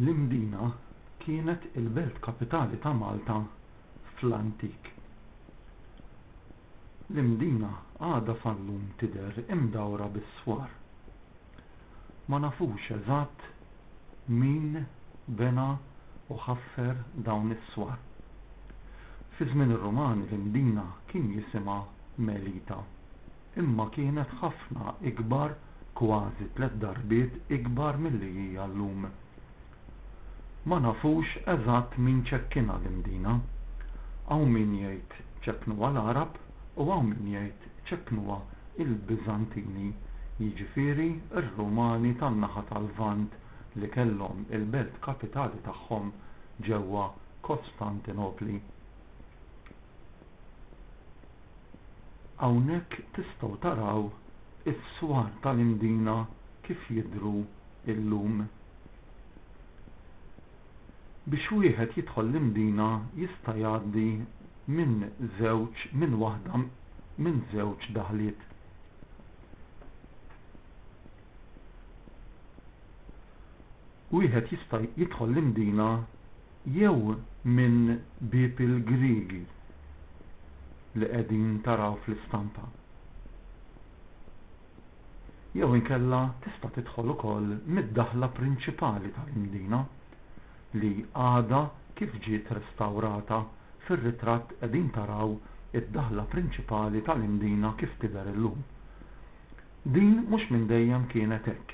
L-Imdina kienet il-belt kapitali ta' Malta fl-antik. L-Imdina għadha sal-lum tidher imdawra bis-swar. Ma nafux eżatt min bena u ħaffer dawn is-swar. Fi żmien ir-Rumani l-Imdina kien jisimha Melita, imma kienet ħafna ikbar, kważi tliet darbiet ikbar milli hija llum. Ma nafux eżatt min ċekkinha l-Imdina. Hawn min jgħid ċekknuha l-Għarab u hawn min jgħid ċeppnuha l-Biżantini, jiġifieri r-Rumani tan-naħa tal-Lvant li kellhom il-belt kapitali tagħhom ġewwa Kostantinopli. Hawnhekk tistgħu taraw is-swar tal-Imdina kif jidhru llum. Biex wieħed jidħol l-Imdina jista' jgħaddi minn żewġ minn waħda minn żewġ daħliet. Wieħed jista' jidħol l-Imdina jew minn Bieb il-Griegi li qegħdin taraw fl-istampa. jew inkella tista' tidħol ukoll mid-daħla prinċipali tal-Imdina, li għadha kif ġiet restawrata, fir-ritratt qegħdin taraw id-daħla prinċipali tal-Imdina kif tidher illum. Din mhux minn dejjem kienet hekk.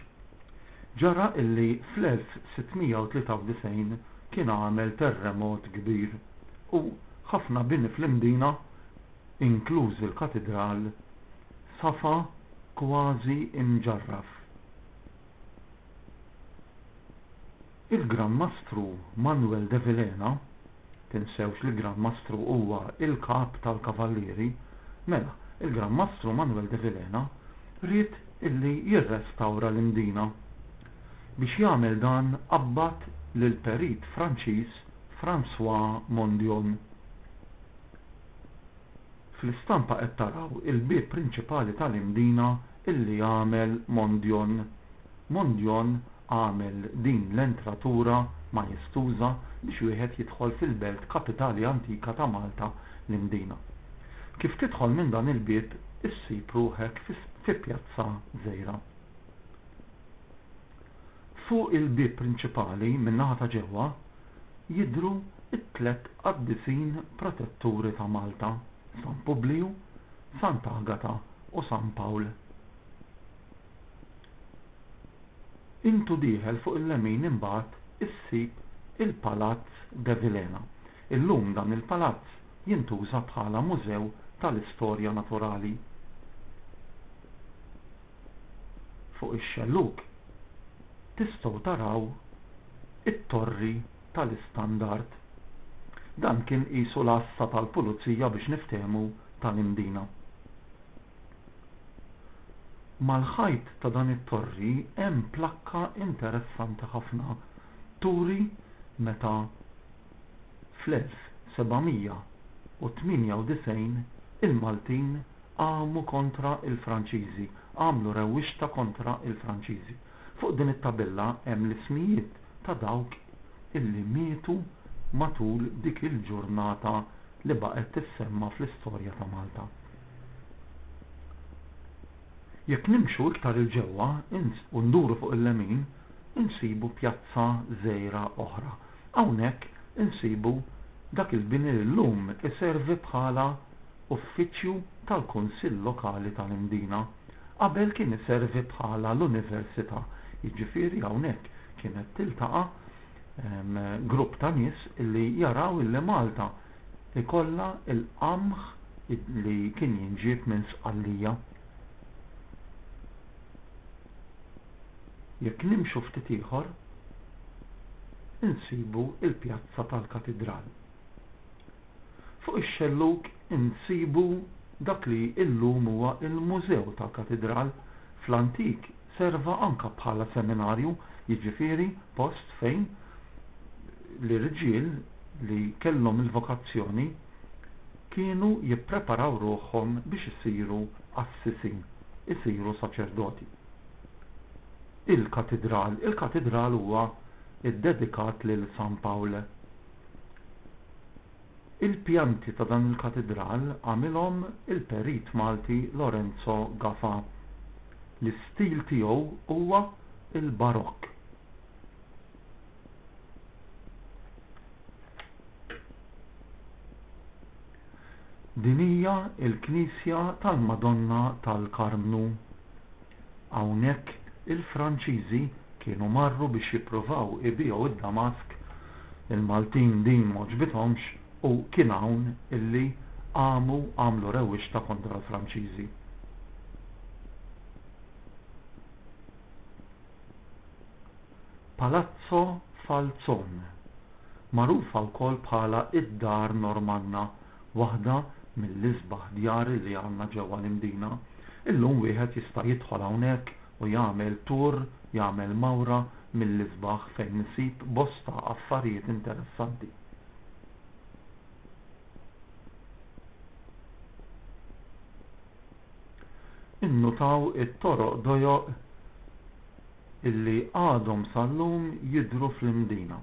Ġara illi fl-1693 kien għamel terremot kbir u ħafna bini fl-Imdina inkluż il-katidral, safa kważi imġarraf. Il-Gran Mastru Manuel de Vilhena, tinsewx li Gran Mastru huwa l-Kap tal-Kavallieri, mela, il-Gran Mastru Manuel de Vilhena ried illi jirrestawra l-Imdina. Biex jagħmel dan qabbad lill-perit Franċiż François Mondion. Fl-istampa qed taraw il-bieb prinċipali tal-Imdina illi għamel Mondjon. Mondjon għamel din l-entratura majestuża biex wieħed jidħol fil-belt kapitali antika ta' Malta, l-Imdina. Kif tidħol minn dan il-bieb issib ruħek fi Pjazza Żgħira. Fuq il-bieb prinċipali min-naħa ta' ġewwa jidhru t-tliet qaddisin protetturi ta' Malta, San Publiju, Sant'Agata u San Pawl. Intu dieħel fuq il-lemin imbagħad issib il-Palazz Devilena. Illum dan il-palazz jintuża bħala mużew tal-istorja naturali. Fuq ix-xellug tistgħu taraw it-torri tal-istandard. Dan kien qisu l-għassa tal-pulizija biex niftehmu tal-Imdina. Mal-ħajt ta' dan it-torri hemm plakka interessanti ħafna turi meta fl-1798 il-Maltin qamu kontra l-Franċiżi, għamlu rewwixta kontra l-Franċiżi. Fuq din it-tabella hemm l-ismijiet ta' dawk illi mietu matul dik il-ġurnata li baqgħet tissemma fl-istorja ta' Malta. Jekk nimxu iktar 'il ġewwa u nduru fuq il-lemin insibu pjazza żgħira oħra Hawnhekk insibu dak il-bini li llum iservi bħala uffiċċju tal-Kunsill Lokali tal-Imdina. Qabel kien iservi bħala l-Università, jiġifieri hawnhekk kienet tiltaqa' grupp ta' nies li jaraw illi Malta jkollha l-qamħ li kien jinġieb minn Sqallija. Jekk nimxu ftit ieħor, insibu l-pjazza tal-Katidral. Fuq ix-xellug insibu dak li illum huwa l-Mużew tal-Katidral, fl-antik serva anke bħala seminarju, jiġifieri post fejn l-irġiel li kellhom il-vokazzjoni kienu jippreparaw ruħhom biex isiru qassisin, isiru saċerdoti. Il-Katidral Il-Katidral huwa ddedikat lil San Pawl. Il-pjanti ta' dan il-Katidral għamilhom il-perit Malti Lorenzo Gafa. L-istil tiegħu huwa l-Barokk. Din hija l-knisja tal-Madonna tal-Karmnu. Hawnhekk il-Franċiżi kienu marru biex jippruvaw ibiegħu id-damask, il-Maltin din m'għoġbithomx u kien hawn illi qamu għamlu rewwixta kontra l-Franċiżi. Palazzo Falzon, magħrufa wkoll bħala d-Dar Normanna, waħda mill-isbaħ djar li għandna ġewwa l-Imdina. Illum wieħed jista' jidħol hawnhekk u jagħmel tour, jagħmel mawra mill-isbaħ fejn isib bosta affarijiet interessanti. Innutaw it-toroq dojoq illi għadhom sal-lum jidhru fl-Imdina.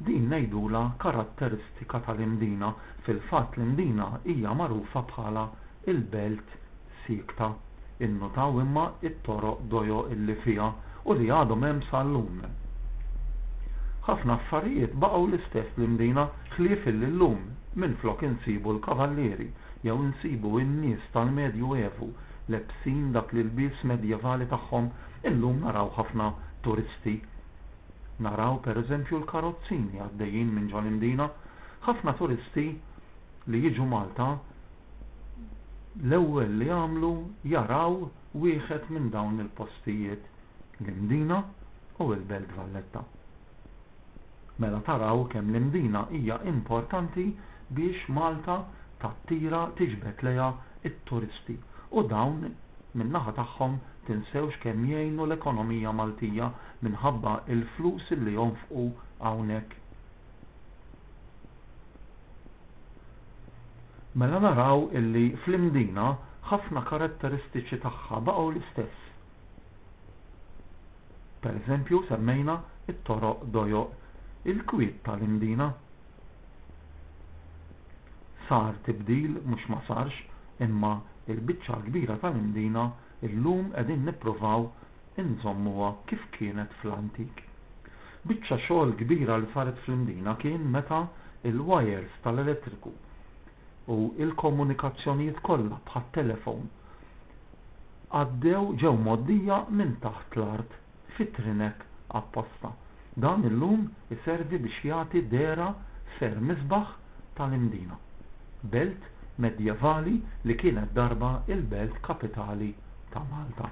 Din ngħidulha karatteristika tal-Imdina, fil-fatt l-Imdina hija magħrufa bħala l-belt siekta. Innutaw imma t-toroq dojo illi fiha u li għadhom hemm sal-lum. Ħafna affarijiet baqgħu l-istess fl-Imdina ħlief illi llum minflok insibu l-kavallieri jew insibu n-nies tal-Medju Evu lebsin dak l-ilbies medjevali tagħhom Illum naraw ħafna turisti. Naraw per eżempju l-karozzini għaddejjin minn ġo l-Imdina. Ħafna turisti li jiġu Malta l-ewwel li jagħmlu jaraw wieħed minn dawn il-postijiet, l-Imdina u l-Belt Valletta. Mela taraw kemm l-Imdina hija importanti biex Malta tattira, tiġbed lejha t-turisti u dawn min-naħa tagħhom tinsewx kemm jgħinu l-ekonomija Maltija minħabba l-flus li jonfqu hawnhekk. Mela naraw illi fl-Imdina ħafna karatteristiċi tagħha baqgħu l-istess. Pereżempju semmejna t-toroq dojoq il-kwiet tal-Imdina. Sar tibdil mhux ma sarx imma l-biċċa l-kbira tal-Imdina llum qegħdin nippruvaw inżommuha kif kienet fl-antik. Biċċa xogħol kbira li saret fl-Imdina kien meta l-wajers tal-elettriku u l-komunikazzjonijiet kollha bħat-telefon għaddew ġew mgħoddija minn taħt l-art fi trinek apposta. Dan illum iservi biex jagħti dehra Ser Misbah tal-Imdina, belt medjevali li kienet darba l-belt kapitali ta' Malta.